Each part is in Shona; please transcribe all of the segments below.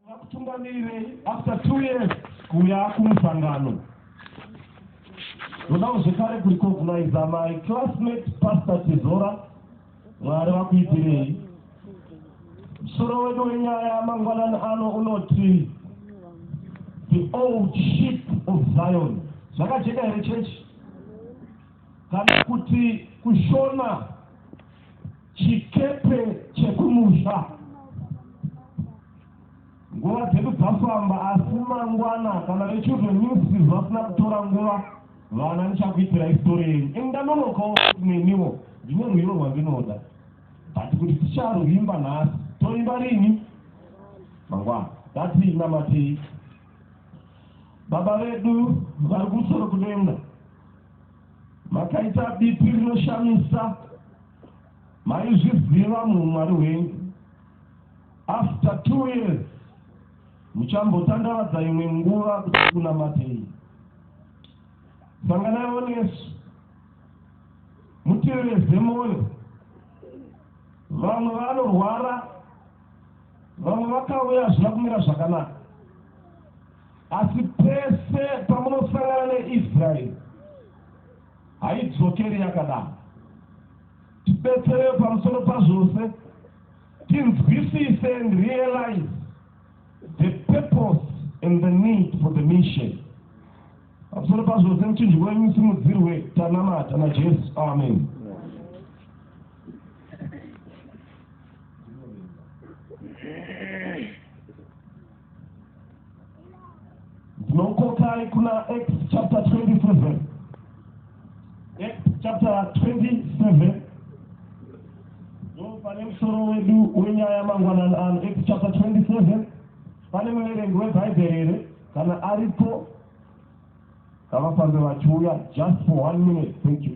Vakutungamirei after two years kuuya kumusangano ndodawo zvekare kurecogniza my classmate pastor tizora mwari vakuitirei musoro wedu wenyaya mangwanani ano unoti the old ship of zion zvakajeka here chechi kana kuti kushona chikepe chekumusha nguva dzedu dzafamba asi mangwana kana vechildren ministries vasina kutora nguva vana ndichakuitira histori yenyu ini ndanonokawo neniwo ndine rwiro rwandinoda but kuti ticharwimba nhasi toimba rini mangwana dati namatii baba vedu vari kusoro kudenga makaita bipi rinoshamisa Maizviziva munhu Mwari wenyu. After two years muchambotandaradza imwe nguva kuti kunamatei. Sanganaiwo nesu mutevere zemoni. Vamwe vanorwara, vamwe vakauya hazvina kumira zvakanaka. Asi pese pamunosangana neIsraeri haidzokeri yakadaro. Tibetserewo pamusoro pazvose tinzwisise and realize the purpose and the need for the mission. Pamusoro pazvose muchinjwa wenyu simudzirwe tanamata naJesu. Amen. ndinokokai kuna act chapter 27 act chapter 27 ndo pane musoro wedu wenyaya mangwanani ano act chapter 27 pane muverengi webhaibheri here kana aripo ngavafambe vachiuya just for one minute thank you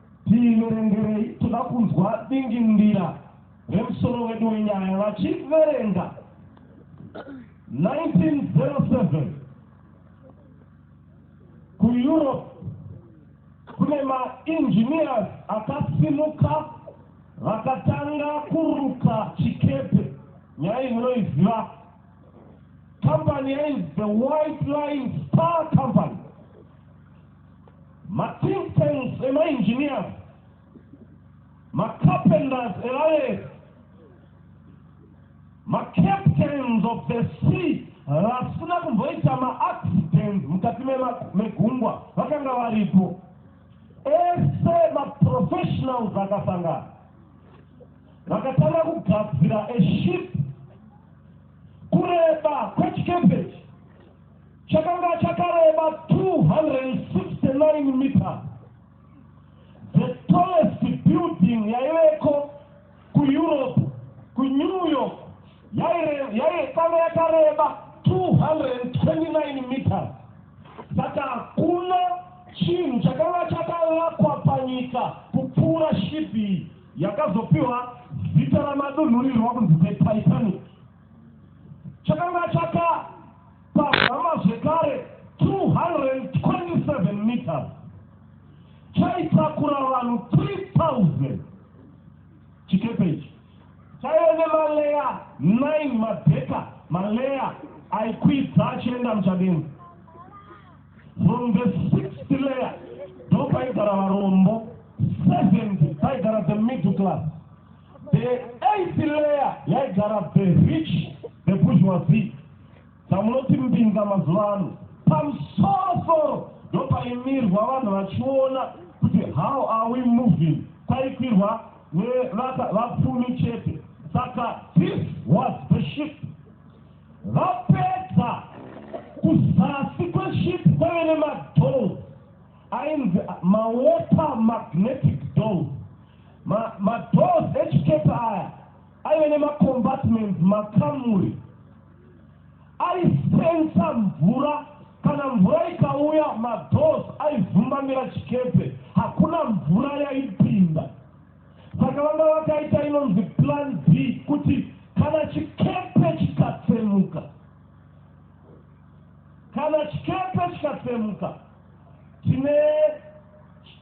Tiverengerei, toda kunzwa dingindira remusoro wedu wenyaya vachiverenga 1907 kuEurope kune maengineers akasimuka vakatanga kuruka chikepe nyaya inoiziva company yainzi the white line star company mathink tanks emaengineers macarpenters evaleri macaptains of the sea vasina kumboita maaccident mukati megungwa vakanga varipo ese maprofessionals akasangana vakatanga kugadzira eship kureba kwechikepechi Chakanga chakareba 269 meters. The tallest building yaiveko kuEurope, kuNew York, yaikanga yakareba 229 meters. Saka hakuna chinhu chakanga chakavakwa panyika kupfuura shipi yakazopiwa zita ramadunhurirwa kunzi the Titanic. chakanga chakapamhama zvekare 227 meters chaitakura vanhu 3000 chikepe ichi chaive nemaleya 9 madheka maleya aikwidza achienda muchadenga from the sixth layer ndopaigara varombo seventh paigara the middle class The eighth layer yaigara the rich, the bourgeoisie, dzamunoti mbinza mazuva ano. Pamusoro soro ndopaimirwa vanhu vachiona kuti how are we moving, kwaikwirwa nevapfumi chete. Saka this was the ship. Vapedza kuzasi kweship kwaive nemadhoo Ainzi mawater magnetic doors. Ma, madoors echikepe aya aive nemacombatments makamuri aisensa mvura kana mvura ikauya madoors aizumbamira chikepe hakuna mvura yaipinda saka vanga vakaita inonzi plan b kuti kana chikepe chikatsemuka kana chikepe chikatsemuka tine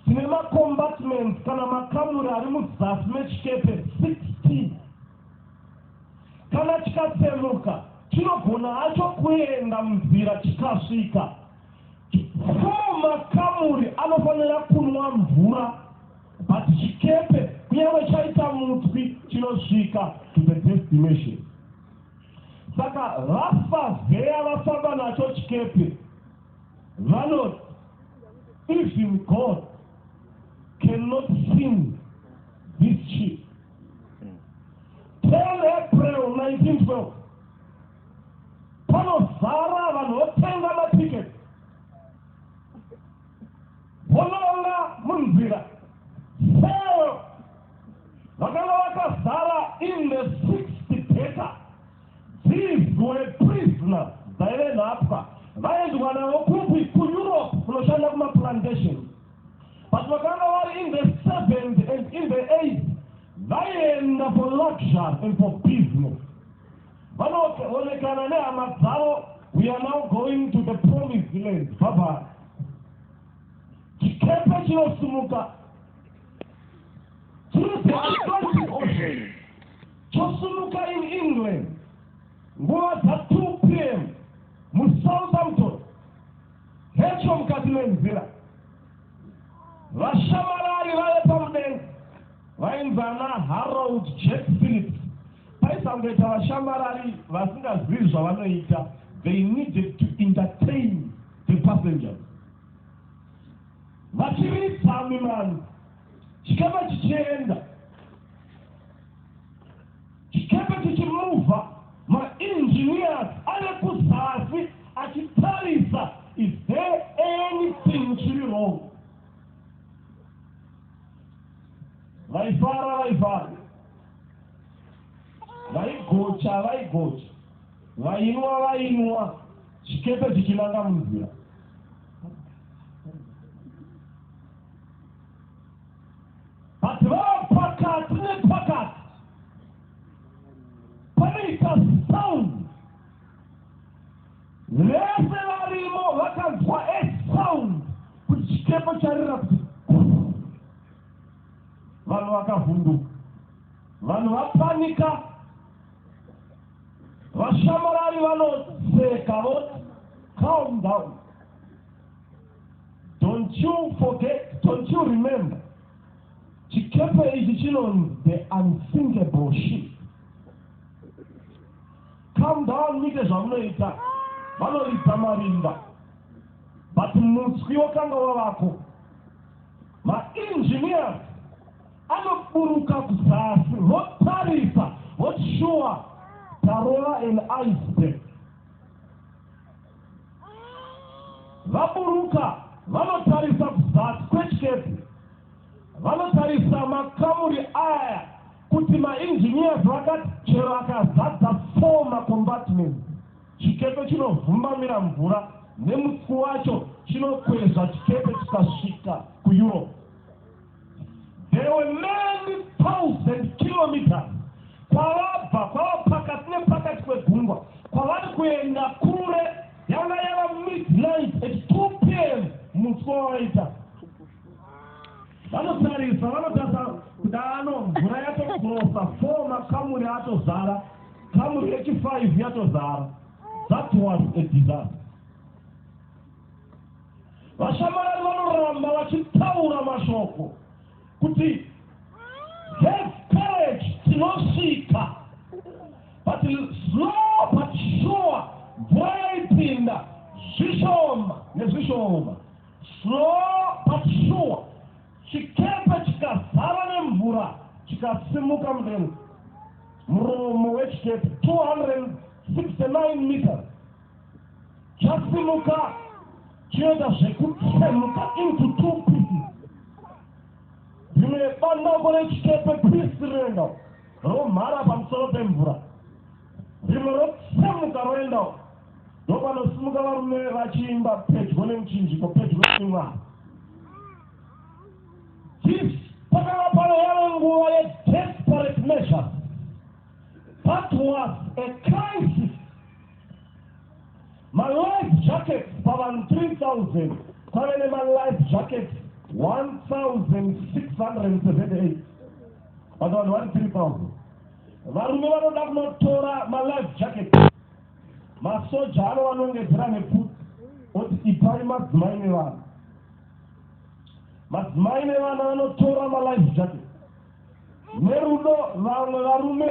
tine macombatments kana makamuri ari muzasi mechikepe 60 kana chikatsemuka chinogona hacho kuenda munzira chikasvika four makamuri anofanira kunwa mvura but chikepe kunyange chaita mutswi chinosvika to the destination saka vafa veya vafamba nacho chikepe Vanoti, Even God cannot sing this cheap. Tell April 1912, panozara vanhu votenga matiketi vononga munzira seo vakanga vakazara in the sixth data Thieves were prisoner dzaive nhapwa vaendwa navo kupi kuEurope kunoshanda kumaplantation but vakanga vari in the seventh and in the eighth vaienda for luxury and for business vanoonekana nehama dzavo we are now going to the promised land baba chikepe chinosumuka chiri Chosumuka in England nguva dza 2 pm muSouthampton hecho mukati menzira. Vashamarari vave pamudenga vainzi ana Harold Jack Phillips. Paisangoita vashamarari vasingazivi zvavanoita, they needed to entertain the passengers. Vachiridza mimano chikama chichienda. Chikepe chichimuvha ma engineers ave kuzasi achitarisa is there anything chiri wrong. Vaifara vaifara. Vaigocha vaigocha. Vainwa vainwa chikepe chichinanga munzira. but vava pakati nepakati panoita sound vese varimo vakanzwa esound kuti chikepo charira kuti vanhu vakavhunduka vanhu vapanika vashamarari vanoseka voti calm down Don't you forget, don't you remember, chikepe ichi chinonzi the unsinkable ship. Come down muite zvamunoita, vanoridza marimba, but mutswi wakanga wavako. Maengineers anoburuka kuzasi votarisa, voti shuwa tarova an iceberg. Vaburuka vanotarisa kuzasi kwechikepe. Vanotarisa makamuri aya kuti maengineers vakati chero akazadza four macombatments chikepe chinovhumbamira mvura nemutsi wacho chinokwezva chikepe chikasvika kuEurope. There were many thousand kilometers kwavabva kwava pakati nepakati kwegungwa kwavari kuenda kure yanga yava midnight at 2 pm musi wavaita vanotarisa vanotasa kudano mvura yatokurosa four makamuri atozara kamuri yechi five yatozara that was a disaster vashamarari vanoramba vachitaura mashoko kuti have courage tinosvika but slow but sure mvura yaipinda zvishoma nezvishoma slow but sure chikepe chikazara nemvura chikasimuka mudenga muromo wechikepe 269 meters chasimuka chinoita zvekutsemuka into two pieces rimwe bandauko rechikepe pisi rinoenda romhara pamusoro pemvura rimwe rotsemuka roenda ndopanosimuka varume vachiimba pedyo nemuchinjiko pedyo nemwari this pakanga pano yave nguva yedesperate measures that was a crisis Malife jackets pavanhu 3000 kwave nemalife jackets 1678 but vanhu vari 3000 varume vanoda kunotora malife jackets masoja ano vanongedzera nepfuti oti ipai madzimai nevana madzimai nevana vanotora malife jackets Nerudo vamwe varume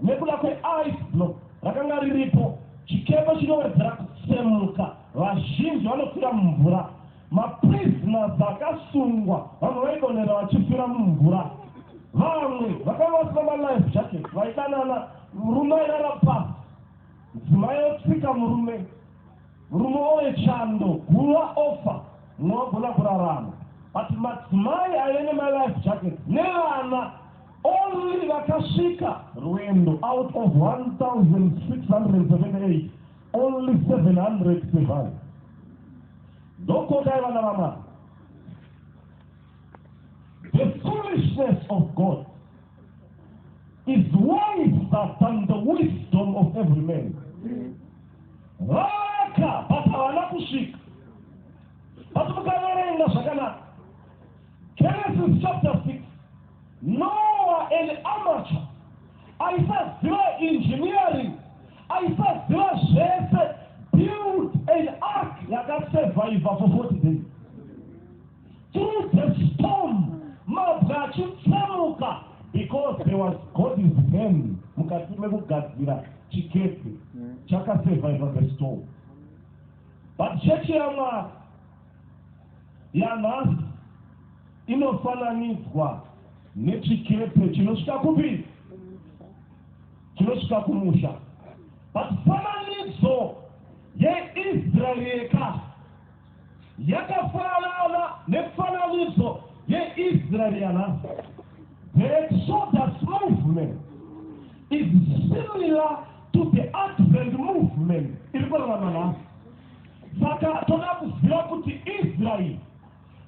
nekuda kwe ice block rakanga riripo, chikepe chinowedzera kutsemuka, vazhinji vanofira mumvura. Ma prisoners akasungwa vamwe vaidonhera vachifira mumvura. Vamwe vakanga vasina ma life jackets vaidanana, murume airara pasi, mudzimai otsika murume. Murume woye chando guva offer munogona kurarama but madzimai aive nema life jacket nevana only vakasvika rwendo out of 1678 only 700 survive ndokotai vana vamwari the foolishness of God is wiser than the wisdom of every man vaka but havana kusvika but mukaverenga zvakanaka genesis chapter 6 noa an amateur aisaziva engineering aisaziva zvese build an ark yakasurviva for 40 days Through the storm, mabwe achitsemuka because there was God's hand mukati mekugadzira chikepe chakasurviva the storm. But chechi yaMwari yanhasi inofananidzwa nechikepe chinosvika kupi? Chinosvika kumusha. But fananidzo yeIsrael yeka Yakafanana nemifananidzo yeIsraeri yanhasi. The Exodus movement is similar to the Advent movement iri kurarama nhasi. Saka toda kuziva kuti Israeri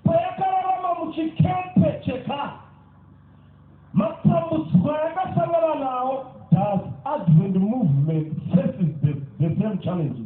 payakararama muchikepe chekare matambudziko ayakasangana nawo does Advent movement faces the, the same challenges.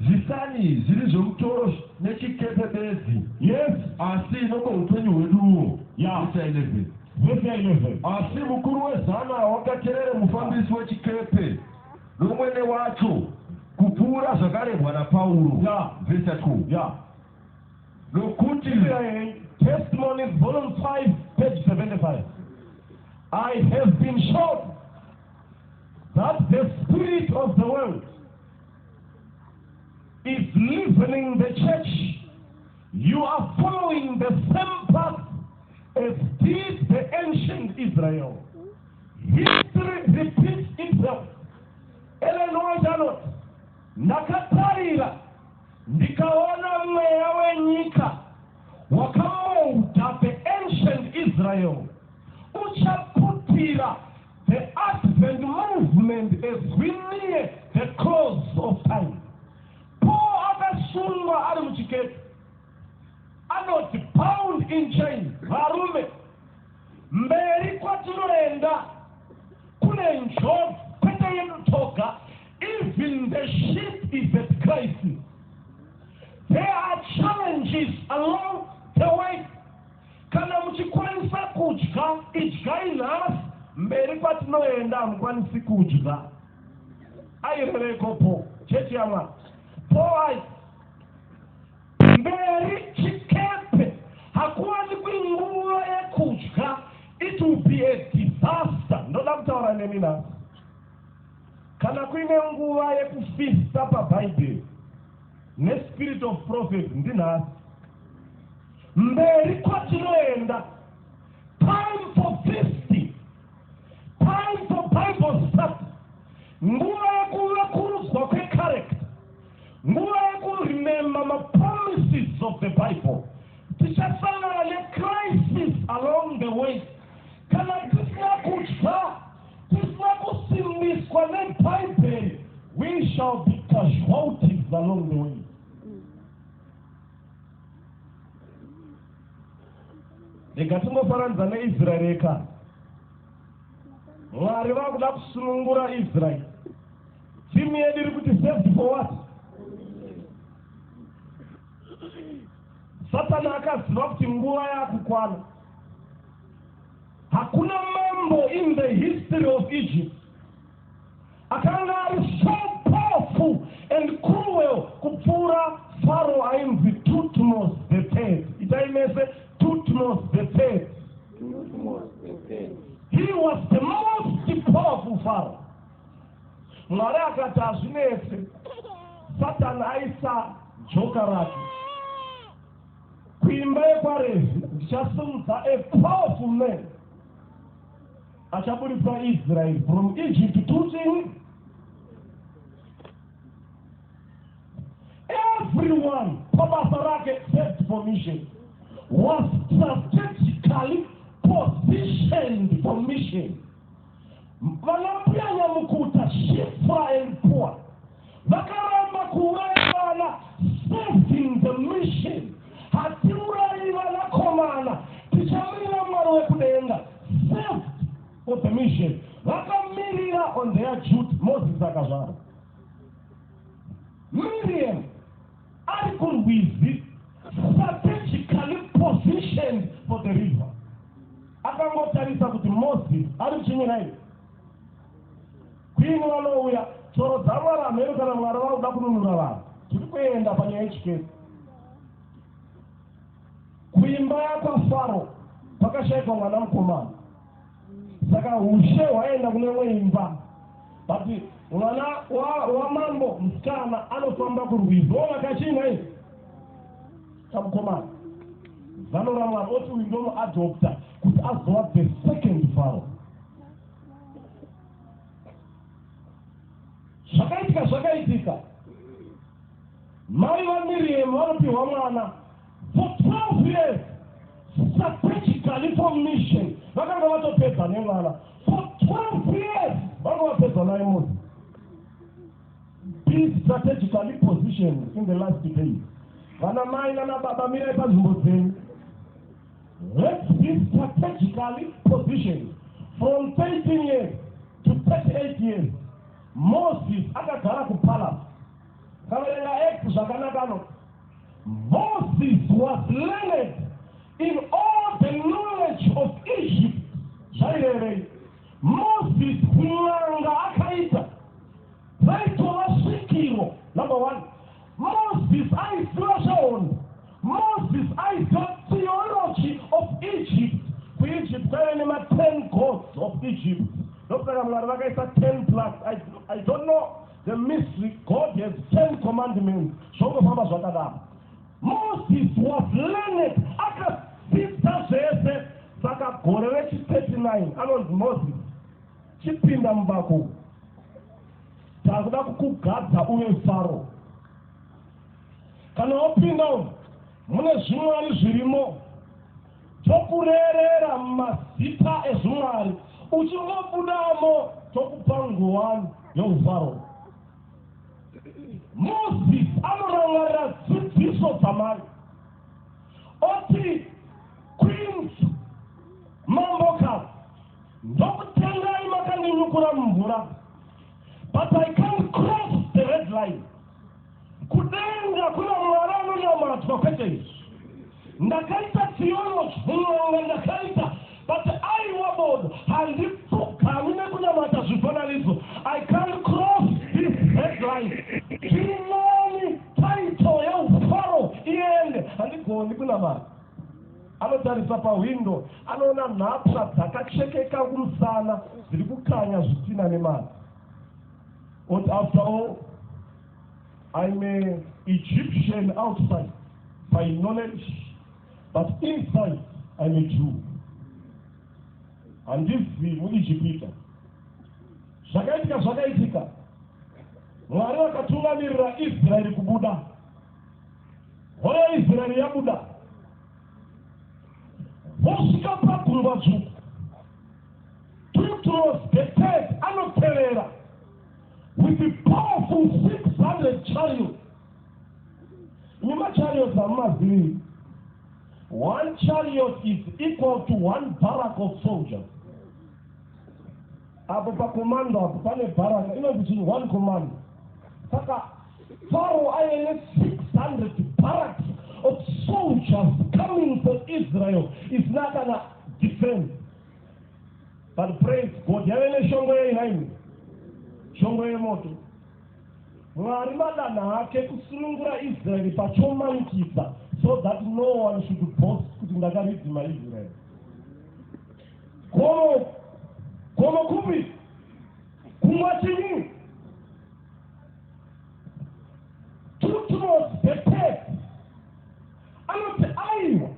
Zvisani zviri zvomutoro nechikepe bedzi. Yes. Asi inopa upenyu hweduwo. Yeah. Vhesi 11. Vhesi 11. Asi mukuru wezana wakaterere mufambisi wechikepe nomwene wacho kupfuura zvakarebwa naPauro. Yeah. Vhesi 12. Yeah. Nokuti Testimonies volume 5 page 75 I have been shown that the spirit of the world is leavening the church you are following the same path as did the ancient israel history repeats itself elenoajanot ndakatarira ndikaona mweya wenyika wakamouta the ancient israel uchaputira The Advent Movement as we near the close of time. Paul akasungwa ari muchikepe anoti bound in chain varume mberi kwatinoenda kune njodzi kwete yedu toga even the ship is at crisis there are challenges along the way Kana muchikwanisa kudya, idyai nhasi, mberi kwatinoenda hamukwanisi kudya. Aireveko po, chechi yamwa. Po ai. Mberi chikepe, hakuwani kwinguva yekudya, it will be a disaster. Ndoda kutaura nemi nhasi. Kana kuine nguva yekufista pabhaibheri, nespirit of prophet, ndinhasi. Mberi kwatinoenda. Time for feast. Time for Bible study. Nguva yekuvekurudzwa kwecharacter. Nguva yekuremember mapromises of the Bible. Tichasangana necrisis along the way. Kana tisina kudya, tisina kusimbiswa neBhaibheri, we shall be casualties along the way. rega tingofaranidza neisraeri eka mwari vakuda kusunungura israeri timu yedu iri kuti saved for what satani akaziva kuti nguva yakukwana hakuna mambo in the history of egypt Akanga ari so powerful and cruel kupfuura Faro ainzi Tutmos the Third. Itai mese Tutmos the Third. He was the most powerful Faro. Mwari akati hazvinese Satan aisa joka rake kuimba yekwaRevhi ndichasimudza a powerful man Achaburitsa Israel from Egypt to chini? Everyone pabasa rake first for mission was strategically positioned for mission. Vanambuya nyamukuta, Shifra and Pua Vakaramba kuuraya vana serving the mission. Hatiurayi vanakomana tichamirira Mwari wekudenga served for the mission. Vakamirira on their duty Moses akazvara. Miriam ari kurwizi strategically positioned for the river. Akangotarisa kuti Moses ari kuchinyira here? Kwini vanouya choro dzamwari hameno kana mwari vakuda kununura vanhu tiri kuenda panyaya yechikesi kuimba yakwafaro kwakashaikwa mwana mukomana saka ushe hwaenda kune imwe imba but mwana wamambo wa musikana anofamba kurwizi ona kachinga izi kamukomana zano ramwana oti uyu ndomuadopta kuti azova the second faro zvakaitika zvakaitika mai vamiriyemu vanopiwa mwana for 12 years strategically for mission vakanga vatopedza nemwana for 12 years vanga vapedza naye munhu be strategically positioned in the last day vana mai nana baba mirai panzvimbo dzenyu Let's be strategically positioned from 13 years to 38 years. Moses akagara kupalace. Kavarenga Acts zvakanaka no. Moses was learned in all the knowledge of Egypt. Zvairevei? Moses kun'anga akaita zvaitova svikiro number one Moses aiziva zvehondo. Moses aiziva theology of Egypt. KuEgypt kwaive nema ten gods of Egypt. Ndokusaka Mwari vakaisa ten plus. I, I don't know the mystery. God has ten commandments. Zvongofamba zvakadaro. Moses was learned. Akadzidza zvese. Saka gore rechi 39 anonzi Moses chipinda mubako. Takuda kukugadza uve Faro. Kana wapinda umu mune zvimwari zvirimo tokurerera mazita ezvimwari uchingobudamo tokupa nguwani youfaro moses anorangarira dzidziso dzamai oti queens mamboka ndokutengai makandinyukura mumvura but i can't cross the red line kudenga kuna mwari anonyamadzwa kwete izvi ndakaita theology mun'anga ndakaita but aiwa bodo handipfugami nekunamata zvifananidzo i can't cross this red line tiri nani title yeufaro iende handigoni kunamata Anotarisa pahwindo anoona nhapwa dzakachekeka kumusana dziri kukanya zvitina nemana. But after all, I'm an Egyptian outside by knowledge, but inside I'm a Jew. Handizi muIjipita. Zvakaitika zvakaitika. Mwari vakatungamirira Israeri kubuda. Hora Israel yabuda vosvika paguruva dzvuku Petros the third anotevera with the powerful 600 chariots nemachariots amumazivii one chariot is equal to one barrack of soldiers apo pakomando apo pane baraka inonzi chii one commando saka Pharaoh aive ne 600 barracks of soldiers coming for Israel isina kana defense. But praise God, yave neshongo yei nhaimi? Shongo yemoto. Mwari madanha hake kusunungura Israel pachomanikisa so that no one should boast kuti ndakaridzima Israel. Gomo, gomo kupi? Kumwa chinyi? Tutros Betel anoti aiwa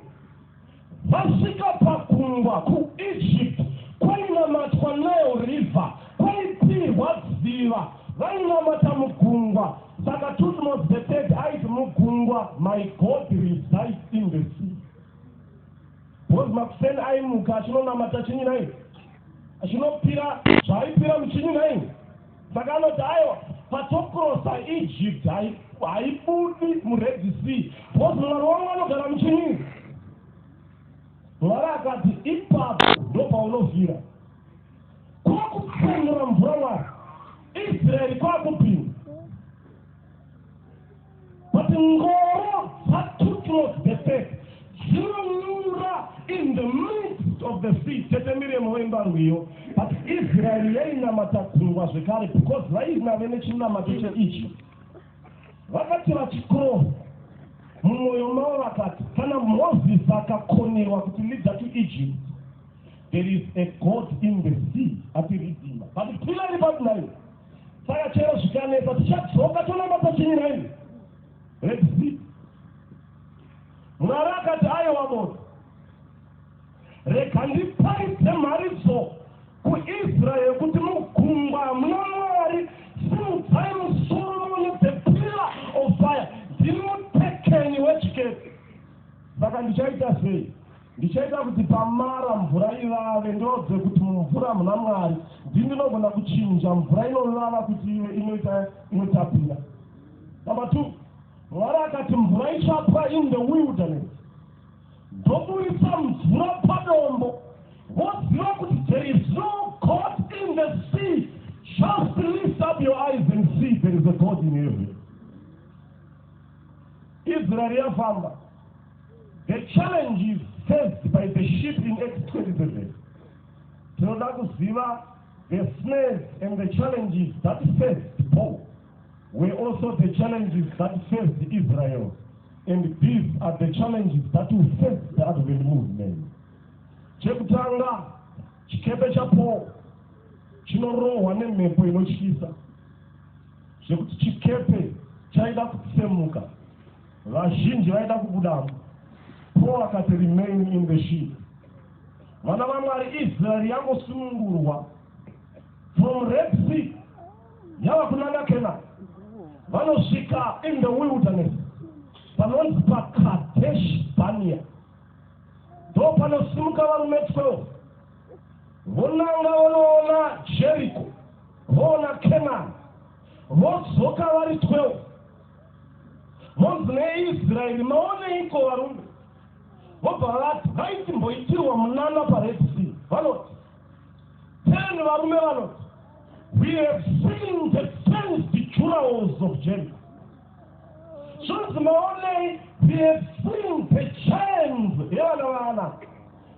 vasvika pagungwa kuEgypt kwainamatwa Nile River kwaipirwa dziva vainamata mugungwa saka Tutmos the Third aiti mugungwa my God resides in the sea bozi makuseni aimuka achinonamata chinyi nai achinopira zvaaipira muchinyi nai Saka anoti aiwa patokrosa Egypt haibudi muRed Sea because Mwari wangu anogara muchinyi. Mwari akati ipapo ndopaunofira kwakupfumura mvura Mwari Israeri kwakupinda But Ngoro Fatutros the faith dzinonyura in the midst of the sea tete miremo wembarwiyo but israeri yainamata gungwa zvekare because vainave nechinamato cheichi vakati vachikroha mumwoyo mavo vakati kana mozisi akakonerwa kuti leader to egypt there is a god in the sea atiridima but pilari patinai Saka chero zvikanetsa tichadzoka tonamba pachiri raini redzii. Mwari akati ayewa moto. Rega ndiparidze mharidzo kuIsraeri kuti mugungwa hamuna Mwari simudzai musoro mune the pillar of fire ndiri mutekeni wechikepe. Saka ndichaita sei? Ndichaita kuti pamara mvura ivave, ndoudze kuti mumvura muna Mwari. Ndini ndinogona kuchinja mvura inovava kuti ive inoita inotapira. Number two, Mwari akati mvura ichapwa in the wilderness. Ndoburitsa mvura padombo. Woziva kuti there is no God in the sea. Just lift up your eyes and see there is a God in heaven. Israel yafamba. The challenges faced by the ship in X27. Tinoda kuziva the snares and the challenges that faced Paul were also the challenges that faced Israel. And these are the challenges that will face the Advent movement. Chekutanga, chikepe cha Paul chinorohwa nemhepo inotyisa zvekuti chikepe chaida kutsemuka Vazhinji vaida kubudamo. Paul akati remain in the ship. Vana vaMwari Israel yangosunungurwa from Red Sea yava kunanga Canaan. Vanosvika in the wilderness panonzi paKadesh Barnea. Ndo panosimuka varume 12 vonanga vonoona Jericho voona Canaan vodzoka vari 12 Monzi nei Israeri maoneiko varume? Vobva vati dai timboitirwa munana paRed Sea. Vanoti ten varume vanoti we have seen the fenced jurahos of Jericho. Zvonzi maonei we have seen the chains yevana vaAnaki.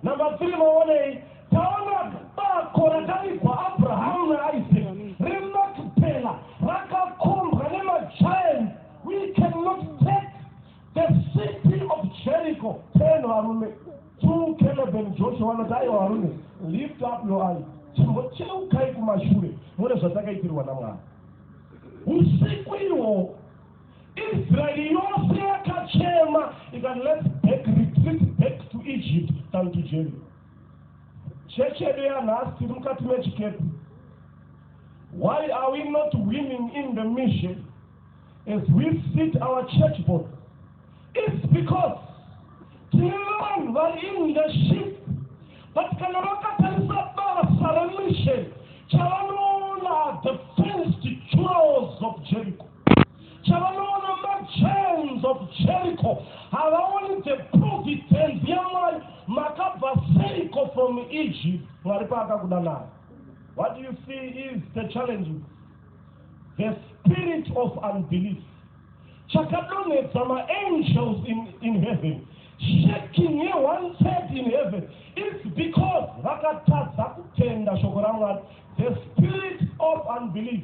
Number three, maonei taona bako rakavigwa Abrahamu naIsaac reMakipela rakakombwa nemagiant. We cannot take the city of Jericho. Ten varume, two Caleb and Joshua vanoti aiwa varume, lift up your eyes, chimbocheukai kumashure muone zvatakaitirwa naMwari usiku ihwohwo. Israeri yose yakachema ikati let's back retreat back to Egypt than to Jericho. Chechi yedu yanhasi tiri mukati mechikepe. Why are we not winning in the mission as we sit our church board? It's because tine vanhu vari in leadership but kana vakatarisa basa remission chavanoona the first churros of Jericho. chavanoona machains of jericho havaoni the providence yamwari makabva seiko from egypt mwari paakakuda nayo what you see is the challenge the spirit of unbelief chakadonhedza maangels in, in heaven shaking ye one third in heaven its because vakatadza kutenda shoko ramwari the spirit of unbelief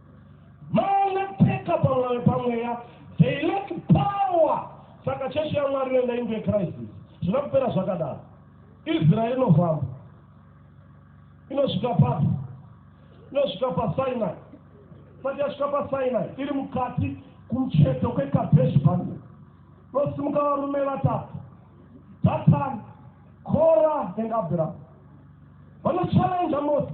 vanopfeka pamwoyo pamweya they lack power saka chechi yamwari inoenda into acrisis zvina kupera zvakadaro israeri inofamba inosvika papi inosvika pasinai sati yasvika pasinai iri mukati kumucheto kwekabeshi bani nosimuka varume vatatu datan kora and abraham vanochallenja mose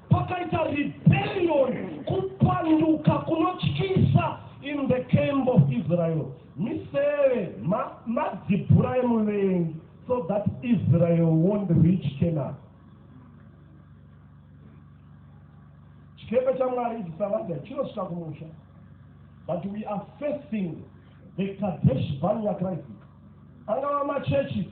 Pakaita rebellion, kupanduka kunotyisa in the camp of Israel. Miseve, ma, madzibhura emuvengi so that Israel won't reach Canaan. Chikepe chaMwari ichi Sabadia chinosvika kumusha. But we are facing the Kadesh Barnea crisis. Angava machechi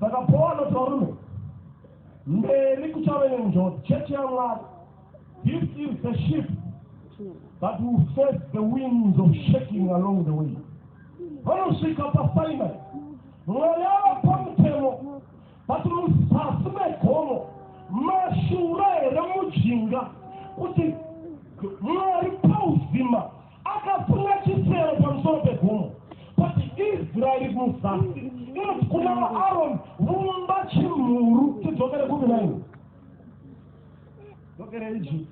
Saka Paul anoti varume, mberi kuchave nenjodzi, chechi yaMwari, this is the ship that will face the winds of shaking along the way. Vanosvika paSinai, Mwari ava pamutemo, vati muzasi megomo, mashura here mujinga, kuti Mwari pauzima, Akasunga chisero pamusoro pegomo kuti Israeri muzasi inoti kuna vaAroni, vumba chimhuru tidzokere kupi naini? Dzokere Egypt.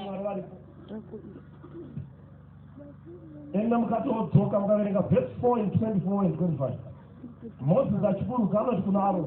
Mwari varipo. Enda mukati wodzoka mukaverenga verse 4 and 24 and 25. Moses achiburuka anoti kuna Aroni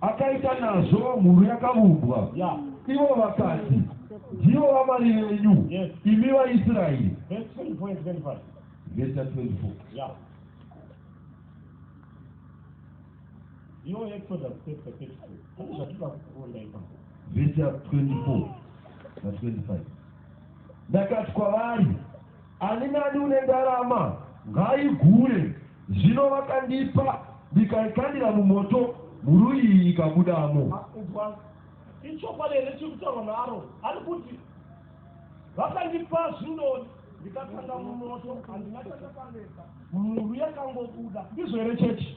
akaita nazvo mhuru yakavumbwa ivo vakati ndivo vamwari venyu imi vaisraeri Your Exodus chapter 32. How does that work for like Verse 24 verse 25. Ndakati kwavari Ani nani une ndarama ngaaigure. Zvino vakandipa, ndikaikandira mumoto, mhuru iyi ikabudamo. Ah, inzwai, ichokwadi here chiri kutaurwa naAron? Ari kuti vakandipa zvino ndikakanda mumoto, handina chandakaneta, mhuru yakangobuda. Ndizvo here chechi?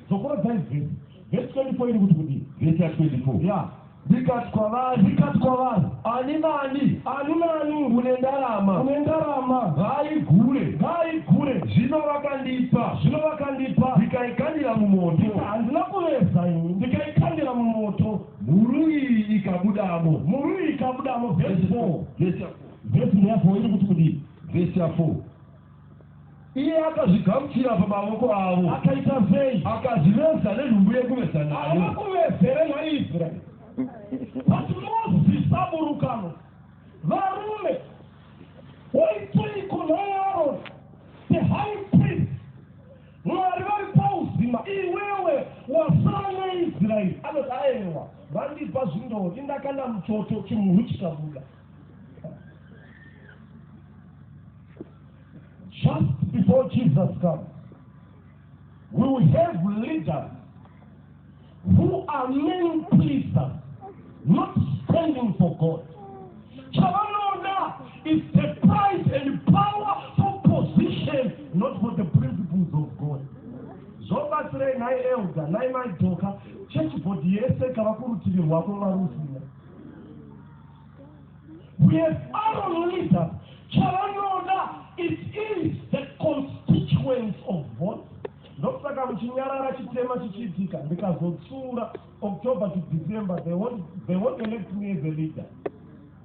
Dzokoredzai vhesi. Vhesi 24 iri kuti kudii? Vhesi ya 24. Ya. Ndikati kwavari, ndikati kwavari, ani nani, ani nani une ndarama, une ndarama, ngaaigure, ngaaigure. Zvino vakandipa, zvino vakandipa, ndikaikandira mumoto. Handina kuveza ini, ndikaikandira mumoto. Mhuru iyi ikabudamo, mhuru iyi ikabudamo. Vhesi 4, vhesi 4 ndeyapo iri kuti kudii? Vhesi ya 4. Iye akazvigamuchira pamavoko avo. Akaita sei? Akazviveza nenhumbu yekuveza nayo. Havakuvezere nhai Israeri. But mozisa burukano. Varume, waitei kunhai Aroni, the high priest? Mwari vari pauzima, iwewe wasara neIsraeri. Anoti aewa, vandipa zvindori, ndakanda muchoto, chimhuru chikabuda. Just before Jesus comes, we will have leaders who are men pleasers, not standing for God. Chavanoda is the pride and power for position, not for the principles of God. Zvobatsirei nhai elder, nhai maidoka, church body yese kava kurutivi rwako varusina. Nedare leader chavanoda it is the constituents of vote ndosaka muchinyarara chitema chichiitika ndikazotsura october to december they won't, they won't elect me as a leader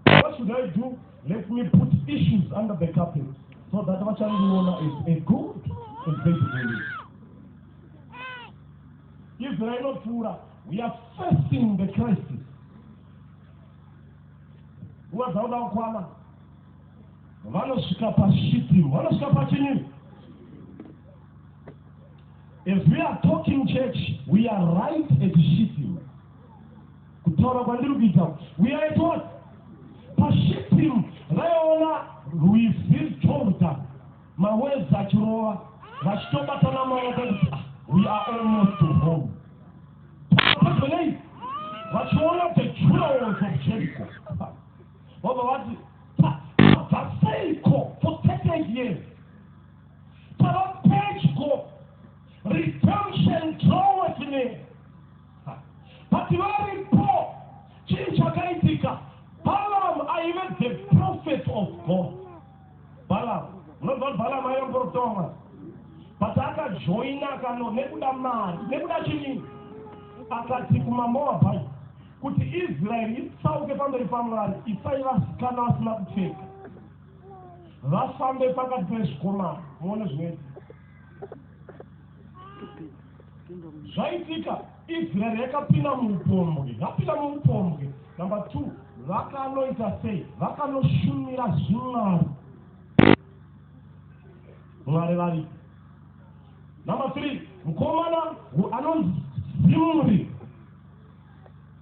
what should i do let me put issues under the carpet so that vachandiona as a good and faithful leader israel inopfuura we are facing the crisis nguva dzauda kukwana vanosvika pasvitiro vanosvika pachini if we are talking church we are right at shitiro kutaura kwandiri kuita we are at what pashitiro vaiona rwizi rwotanga Mawords achirova vachitobatana maoko kuti ah, we are almost to home. Patonei vachiona the jewels of Jericho. Vobva vati tabva seiko for 30 years. Tava pedyo redemption draweth near. But varipo chii chakaitika? Balaam aive the prophet of God. Balaam. Munonzwa kuti Balaam aiva muprofita waMwari. But akajoina akano nekuda mari, nekuda chini? Akati kumaMoabite kuti Israeri itsauke pamberi paMwari, isai vasikana vasina kupfeka. Vafambe pakati pezvikomana, muone zvinoitika. zvaitika israeri yakapinda muupombwe yapinda muupombwe number two vakanoita sei vakanoshumira zvimwari mwari vari number three mukomana anonzi zimuri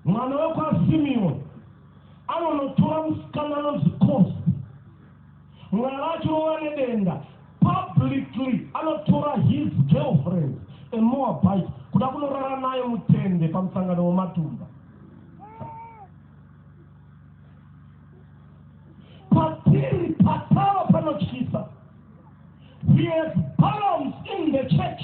mwana wekwasimioni anonotora musikana anonzi kosi Mwari achirova nedenga publicly anotora his girlfriend a Moabite kuda kunorara naye mutende pamusangano wematumba. Patiri patava panotyisa. He has balloons in the church.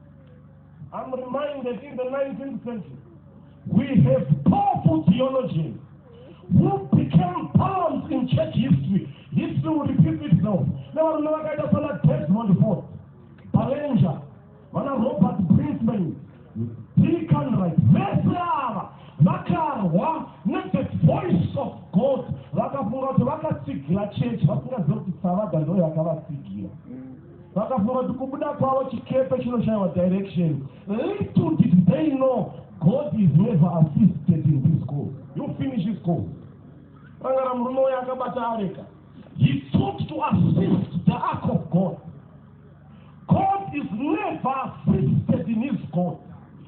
I'm reminded in the 19th century, we have powerful theologians who became poems in church history. History will repeat itself. Now, I'm not going to say that Desmond Ford, Ballinger, Mana Robert Brinkman, Deacon Wright, Vesara, Vakarwa, not the voice of God. Vakafunga kuti vakatsigira church, vasingaziva kuti Savada ndoyo akavatsigira. Vakafunga kuti kubuda kwavo chikepe chinoshaiwa direction. Little did they know God is never assisted in this school. You finish this school. Rangara murume uya akabata areka. He sought to assist the ark of God. God is never assisted in his God.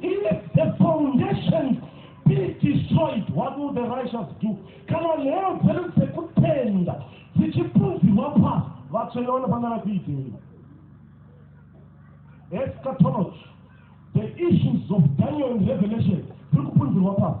Even if the foundations be destroyed, what will the righteous do? Kana nheyo dzedu dzekutenda dzichipunzirwa pasi, vatsvene vanofanira kuitei? Eschatology, the issues of Daniel and Revelation, dziri kupunzirwa pasi.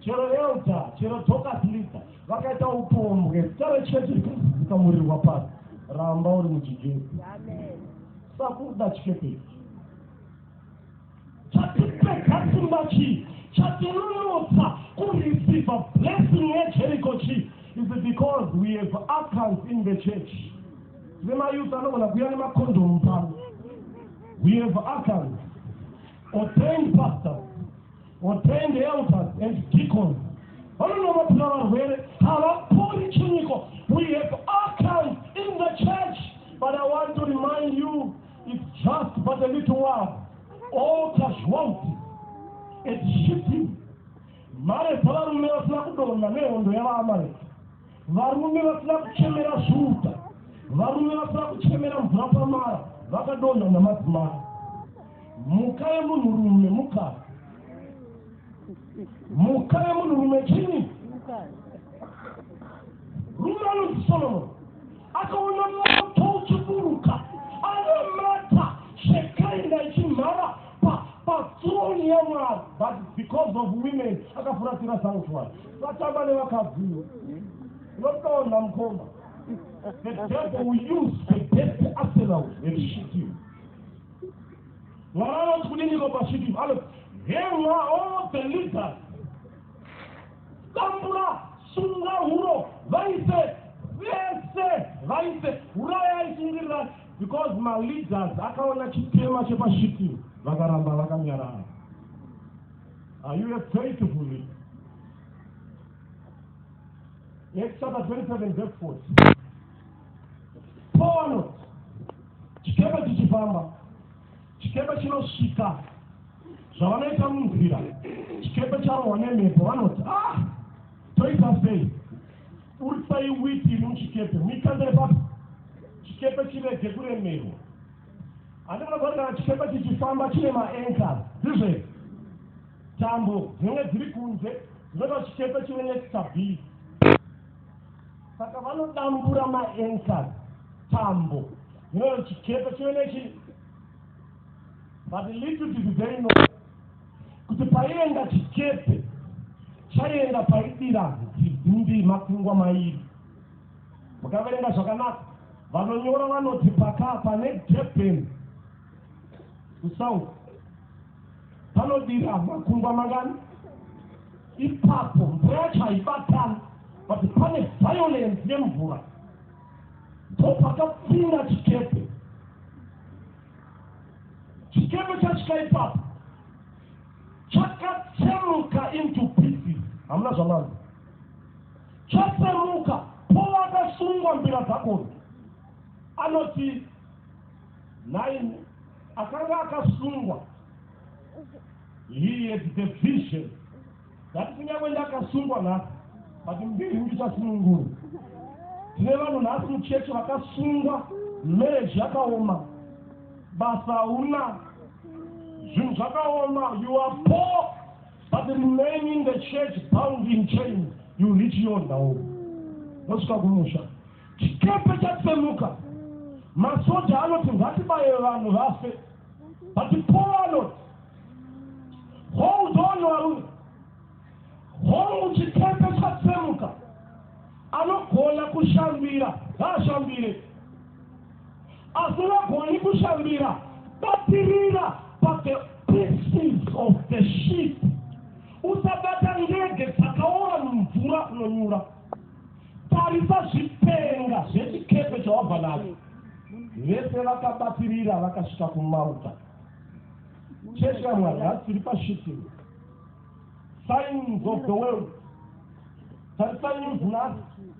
chero elda chero docas lida vakaita upombwe zita rechechi rikazikamurirwa pasi ramba uri muchijesu sakuda chikepei chatipekasimba chii chatinunutsa kureceiva blessing yejericho chii is it because we have accounts in the church tine mayouth anogona kuuya nemakondomu pano we have accounts ordained pastors, ordained elders and deacons vanonomatira varwere havapori chiniko we have archives in the church but i want to remind you it's just but a little while all casualty and shifting mare dzavarume vasina kudonha nehondo yavaamareki Varume vasina kuchemera svuta, varume vasina kuchemera mvura pamara vakadonha namadzimai. Mhuka yemunhurume mukadzi, mhuka yemunhurume chini? Rume anonzi Solomoni akaona moto uchiburuka anamata zvekainda ichimhara patroni yamwari but because of women akafuratira sanctuary Vatamba nevakadziwo. Unotonda mukoma. The devil will use the best arsenal and shoot you. Mwana anoti kudini ko pashoot you. Anoti, hemwa all the leaders. Tambura, sunga huro, vaise, vese, vaise, urayai sungirirani. Because my leaders akaona chitema chepashoot you. Vakaramba vakanyarara. Are you a faithful leader? Acts chapter 27 verse 40. Paul anoti chikepe chichifamba chikepe chinosvika zvavanoita munzira chikepe charohwa nemhepo vanoti ah toita sei urisai witi iri muchikepe muikandire papi chikepe chirege kuremerwa Andina kuona kana chikepe chichifamba chine maanchors ndizvo here? Tambo dzinenge dziri kunze dzinoita kuti chikepe chive nestability. Saka vanodambura maanchors tambo dzinoita kuti chikepe chive nechi but little did they know kuti paienda chikepe chaienda paidira nzi- ndi makungwa mairi Mukaverenga zvakanaka, vanonyora vanoti pakaa pane Durban kusouth panodira makungwa mangani ipapo mvura yacho haibatani but pane violence yemvura ndopakapinda chikepe chikepe chasvika ipapo chakatsemuka into pieces hamuna zvamanzi Chosemuka povakasungwa mbira dzakona, anoti nhaimi akanga akasungwa he had the vision that kunyangwe ndakasungwa nhasi but mbiri ndichasunungura tine vanhu nhasi mucheche vakasungwa marriage yakaoma basa hauna zvinhu zvakaoma you are poor but remaining the church bound in chain you reach your ndau mosvika kumusha chikepe chatsemuka masoja anoti ngatibaye vanhu vafe but paul anoti hold on varume hongu chikepe chatsemuka anogona kushambira ngaashambire asi vagoni kushambira batirira pathe pieces of the ship usabata ndege dzakaora mumvura unonyura tarisa zvipenga zvechikepe chawabva nacho vese vakabatirira vakasvika kumauta chechi yamwari hasiri pashipi signs of the world tarisai news nhasi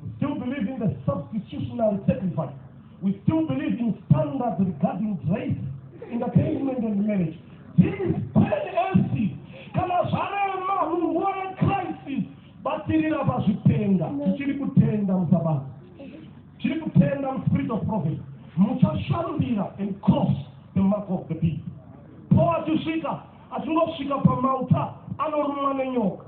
We still believe in the substitutionary sacrifice. We still believe in standards regarding grace, entertainment and marriage. This is penalty. Kana zvarema munhu wore crisis batirira pazvitenda tichiri kutenda musabasa tiri kutenda muspirit of prophet muchashandira and cross the mark of the beast po achisvika achingosvika pamauta anorumwa nenyoka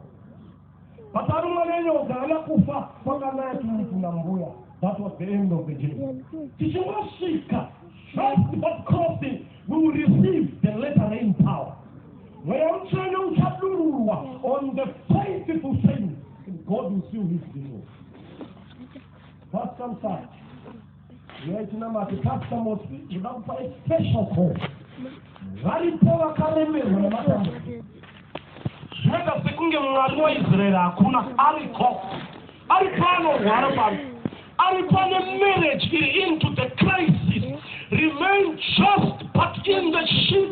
Pakarumwa nenyoka haana kufa kwakanaya tiri kuna mbuya. That was the end of the journey. Tichingosvika first but crossing we will receive the letter rain power. Mweya mutsvene uchadururwa on the faithful saints and God will seal his deal. Pastor Msaka. Nyaya chinamato Pastor Mosi ndoda kupa a special call. Varipo vakaremerwa nematambudziko. Zvinoita sekunge Mwari waIsraeri hakuna ariko. Ari pano rwara pano. Ari pane marriage iri into the crisis. Remain just but in the ship.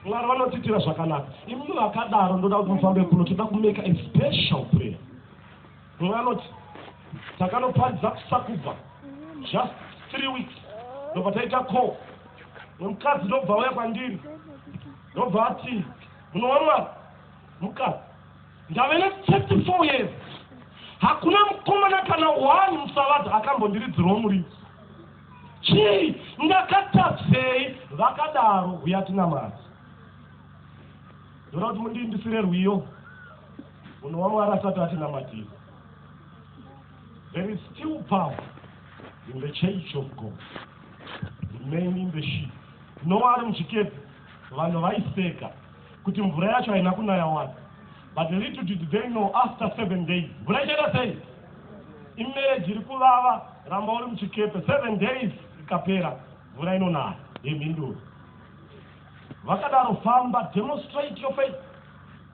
Mwari vanotiitira zvakanaka. Imi vakadaro ndoda kuti mufambe kuno toda kumeka a special prayer. Mumwe anoti, Takanoparidza kusakubva just three weeks ndobva taita call nemukadzi ndobva auya kwandiri ndobva ati munowa mwari mukadzi ndave ne34 four years hakuna mukomana kana one musavadzi akambondiridzirwa muriwo chii ndakatadzei vakadaro huya tina mari ndoda kuti mundiindisire rwiyo Munhu waMwari asati atinamatira. There is still power in the church of God. Remain in the sheep. Noa ari muchikepe, vanhu vaiseka kuti mvura yacho haina kunaya wani. But little did they know after seven days. Mvura ichaita sei? Imereji iri kuvava, ramba uri muchikepe. Seven days ikapera, mvura inonaya. Yemhinduro. Vakadaro famba, demonstrate your faith.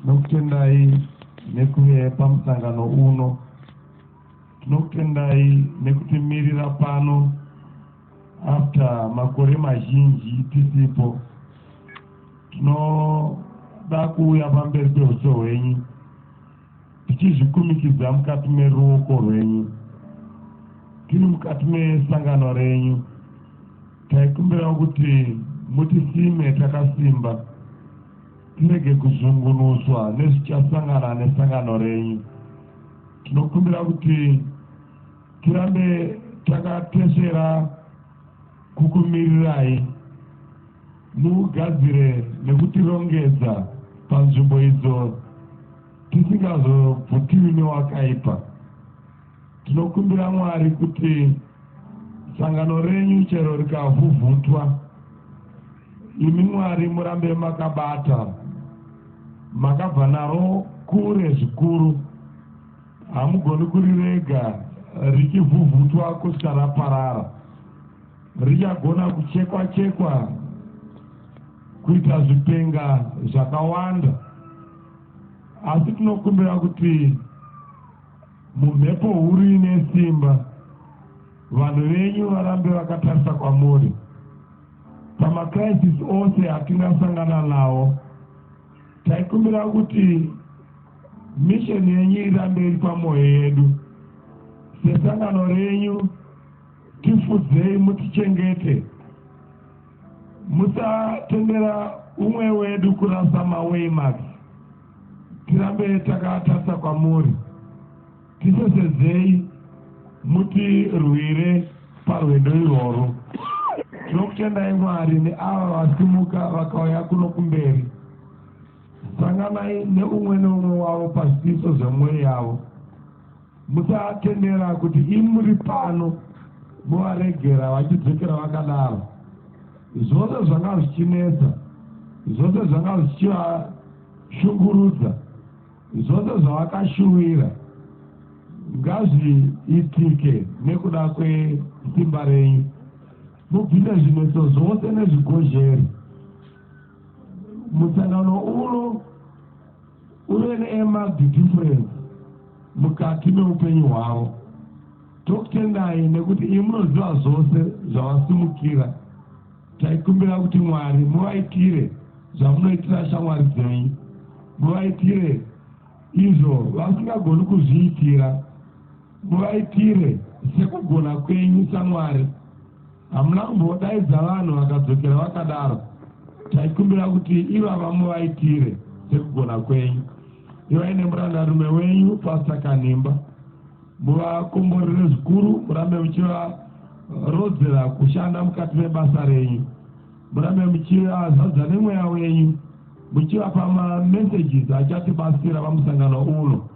Tinokutendai nekuve pamusangano uno. Tinokutendai nekutimirira pano after makore mazhinji tisipo. Tinoda kuuya pamberi pehuso hwenyu. tichizvikumikidza mukati meruoko rwenyu tiri mukati mesangano renyu taikumbirawo kuti mutisime takasimba tirege kuzungunuswa nezvichasangana nesangano renyu tinokumbira kuti tirambe takatesera kukumirirai Mugadzire nekutirongedza panzvimbo idzo tisingazobvutiwi newakaipa. Tinokumbira Mwari kuti sangano renyu chero rikavhuvhutwa, imi Mwari murambe makabata, makabva naro kure zvikuru, hamugoni kurirega richivhuvhutwa kusvika raparara. Richagona kuchekwa chekwa kuita zvipenga zvakawanda asi tinokumbira kuti mumhepo huru ine simba vanhu venyu varambe vakatarisa kwamuri pamacrisis ose atingasangana nawo taikumbira kuti misheni yenyu irambe iri pamwoyo yedu sesangano renyu Tifudzei mutichengete musatendera umwe wedu kurasa mawaymax tirambe takatarisa kwamuri tisesedzei mutirwire parwendo irworwo tinokutendai mwari neava vasimuka vakauya kuno kumberi sanganai neumwe neumwe wavo pazvidiso zvemwoyo yavo Musatendera kuti imuri pano muvaregera vachidzokera vakadaro. Zvose zvanga zvichinetsa, zvose zvanga zvichivashungurudza, zvose zvavakashuwira ngazviitike nekuda kwesimba renyu. Mubvise zvinetso zvose nezvigozheri musangano uno uye neemadhidhifurence mukati meupenyu hwavo tokutendai nekuti iyi munoziva zvose zvavasimukira taikumbira kuti mwari muvaitire zvamunoitira shamwari dzenyu muvaitire izvo vasingagoni kuzviitira Muvaitire sekugona kwenyu saMwari. Hamuna kumbodaidza vanhu vakadzokera vakadaro. Taikumbira kuti ivava muvaitire sekugona kwenyu. Ivai nemurandarume wenyu Pastor Kanhimba. Muvakomborere zvikuru murambe muchivarodzera kushanda mukati mebasa renyu. Murambe muchivazadza nemweya wenyu muchivapa mamessages achatibatsira pamusangano uno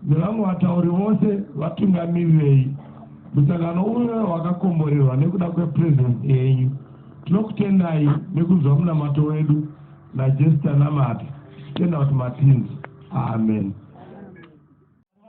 nevamwe vatauri vose vatungamirirei musangano uno wakakomborerwa nekuda kwepresence yenyu. Tinokutendai nekunzwa munamato wedu naJesu tanamata tichitenda kuti matinzi. Amen.